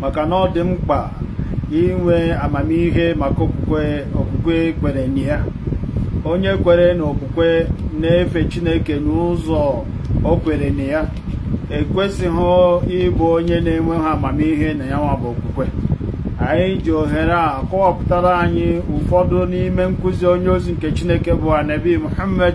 maka na ọ dị mkpa inwe amamihe maka okwukwe okwukwe kwere na ya onye kwere na okwukwe na-efe chineke n'ụzọ o kwere na ya ekwesịghị ịbụ onye na-enweghị amamihe na ya nwa bụ okwukwe anyị ji ohere a kọwapụtara anyị ụfọdụ n'ime nkuzi onye ozi nke chineke bụ anabi muhammad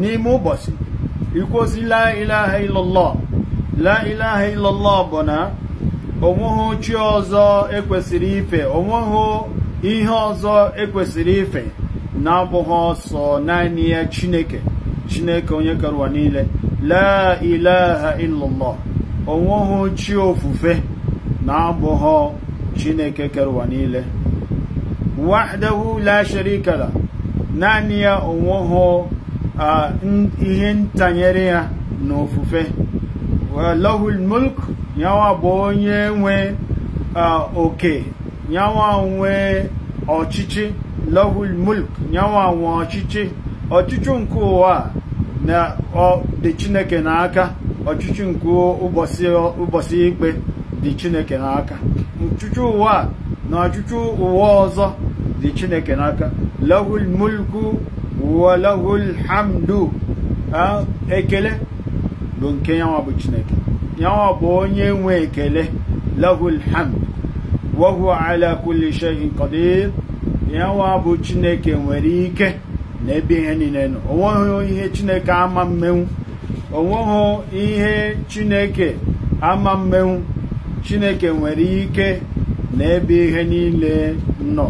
n'ime ụbọchị ikwuzi la ilaha illallah la ilaha illallah bụ na onweghị chi ọzọ ekwesịrị ife onweghị ihe ọzọ ekwesịrị ife na-abụghị sọ naanị ya chineke chineke onye kere ụwa niile la ilaha illallah onweghị chi ofufe na-abụghị chineke kere ụwa niile wahdahu la sharika lah naanị ya onweghị ah, n- ihe ntanyere ya na ofufe lahul mulk yanwa bụ onye nwe ah, oke yanwa nwe ọchịchị lahul mulk yanwa nwe ọchịchị ọchịchị nke ụwa a na ọ dị chineke n'aka ọchịchị nke ụbọchị ụbọchị ikpe dị chineke n'aka ọchịchị ụwa a na ọchịchị ụwa ọzọ dị chineke n'aka lahul mulku wa lahul hamdu Ah, ekele bụ nke yanwa bụ chineke yanwa bụ onye nwe ekele lahul hamd wa huwa ala kulli shay'in qadir yanwa bụ chineke nwere ike na ebe ihe niile nọ o nweghị ihe chineke ama mmenwu o nweghị ihe chineke ama mmenwu chineke nwere ike na ebe ihe niile nọ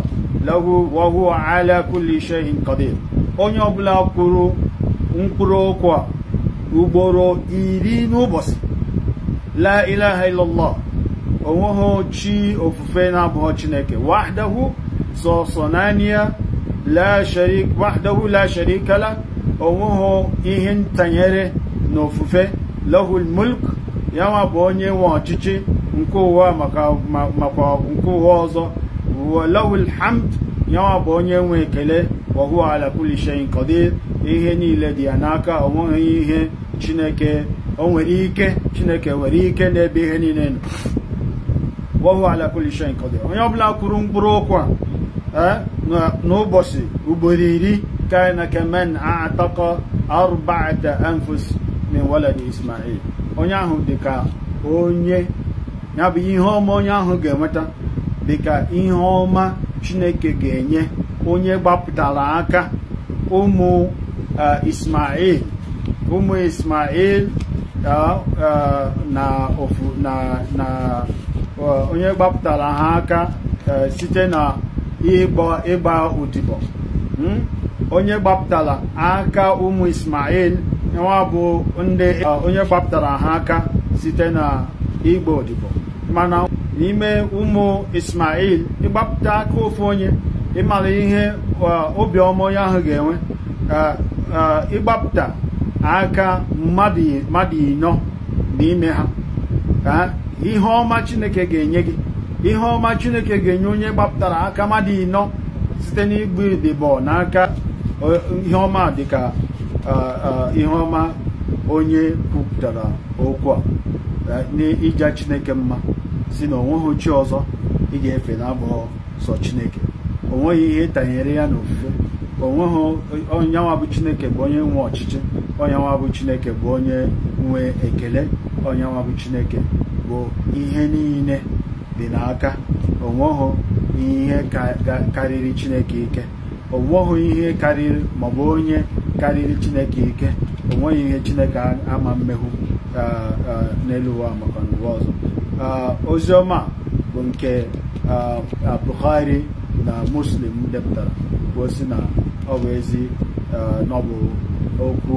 lahu wa huwa ala kulli shay'in qadir onye ọbụla kwuru mkpụrụ okwu a ugboro iri n'ụbọchị la ilaha illallah onweghị chi ofufe ofufe na-abụghọ chineke wahdahu sọsọ naanị ya wahdahu la sharika lah onweghị ihe ntanyere na ofufe lahul mulk ya nwa bụ onye nwe ọchịchị nke ụwa makwa nke ụwa ọzọ lahul hamd ya nwa bụ onye nwe ekele wahuwa ala kulli shay'in qadir ihe niile dị ya n'aka onweghị ihe chineke o nwere ike chineke nwere ike n'ebe ihe niile nọ wa huwa ala kulli shay'in qadir onye ọbụla kwuru mkpụrụ okwu a eh, n'ụbọchị ugboro iri kana kaman a'taqa arba'ata anfus min waladi ismail onye ahụ dị ka onye ya bụ ihe ọma onye ahụ ga-enweta dị ka ihe ọma chineke ga-enye onye gbapụtara aka ụmụ eh, ismail ụmụ ismail na ofu na na onye gbapụtara ha aka site na ịgba odibo onye gbapụtara aka ụmụ Ismail nwa bụ ndị onye gbapụtara ha aka site na ịgba odibo mana n'ime ụmụ Ismail ịgbapụta aka ofu onye ị mara ihe obiọma onye ahụ ga-enwe eh, eh, ịgbapụta aka mmadụ ịnọ n'ime ha ihe ọma chineke ga-enye gị ihe ọma chineke ga-enye onye gbapụtara aka mmadụ ịnọ site n'ịgba odibo n'aka eh, ihe ọma dịka eh, eh, ihe ọma onye kwupụtara okwu a eh, n'ịja chineke mma sị na o nweghị chi ọzọ ị ga-efe na-abụghị sọ chineke o nweghị ihe tanyere ya n'ofufe o nweghị onye nwa bụ chineke bụ onye nwe ọchịchị onye nwa bụ chineke bụ onye nwe ekele onye nwa bụ chineke bụ ihe niile dị n'aka o nweghị ihe karịrị chineke ike o nweghị ihe karịrị maọbụ onye karịrị chineke ike o nweghị ihe chineke ama mmehụ n'elu ụwa maka n'ụwa ọzọ ozi ọma bụ nke Bukhari na Muslim depụtara bụ sị na ọ bụ ezi na ọ bụ okwu